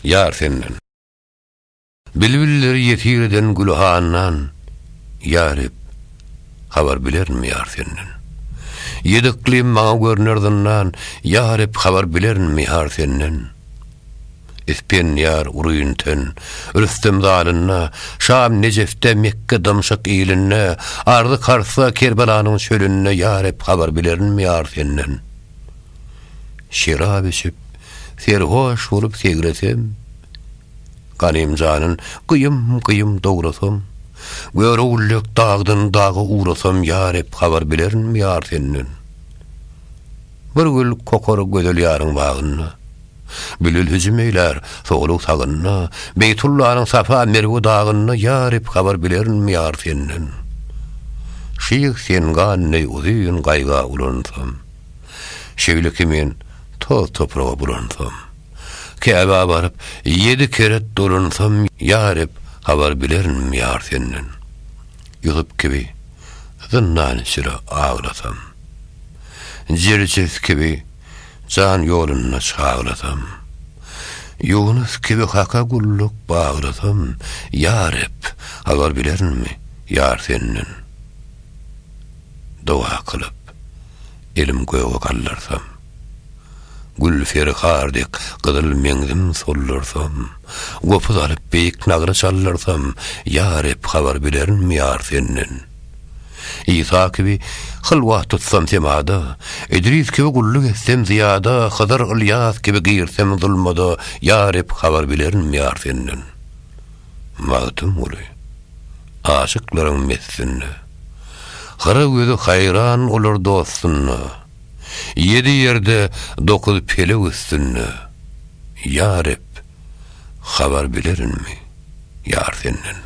Ýar senden. Bilbilleri ýesir eden gülhandan, Ýa Reb, habar bilerin ýar senden. Ýedi yklym maňa görner zyndan, Ýa Reb, habar bilerin mihar senden. Ispendiýar, Urynten, Rüstem zalynda, Şam, Nejefde, Mekge, Dymşyk ilinde, Arzy-Karsda, Kerbelanyň çölünde, Ýa Reb, habar bilerin mihar senden. Şerap içip, serhoş bolup segresem, Ganymjanyn gyýym-gyýym dograsam, Görogüllek dagdan daga ugrasam, Ýa Reb, habar bilerinmi ýar senden? Bir gül kokar gözel ýaryň bagynda. Bilil hüjüm eýlär, sogluň sagynda, Beýtullanyň Safa, Merwe dagynda, Ýa Reb, habar bilerinmi ýar senden? Şyh sen gan deý uzyn gaýga ulansam, Şeýle ki men toz-topraga bulansam, Käbä baryp, ýedi keret dolansam, Ýa Reb, habar bilerinmi ýar senden? Ýusup kibi zyndan içre aglasam, Jerjes kibi jan ýolunda çagrasam. Ýunus kibi Haka gulluk bagrasam, ýa Reb, habar bilerinmi, ýar Senden? Doga kylyp, elim göge gallarsam. Gül ferhar dek gyzyl meňzim sollarsam, gopuz alyp beýik nagra çallarsam, ýa Reb, habar bilerinmi, ýar Senden? Isa kibi hylwat tutsam semada, Idris kibi gulluk etsem zyýada, Hydyr, Ylýas kibi girsem zulmada, Ýa Reb, habar bilerin ýar Senden. Magtymguly. Aşyklaryň messinde. Hyra gözi haýran olar dostunda, Ýedi ýerde, dokuz pelek üstünde. Ýa Reb! Habar bilerinmi, ýar senden.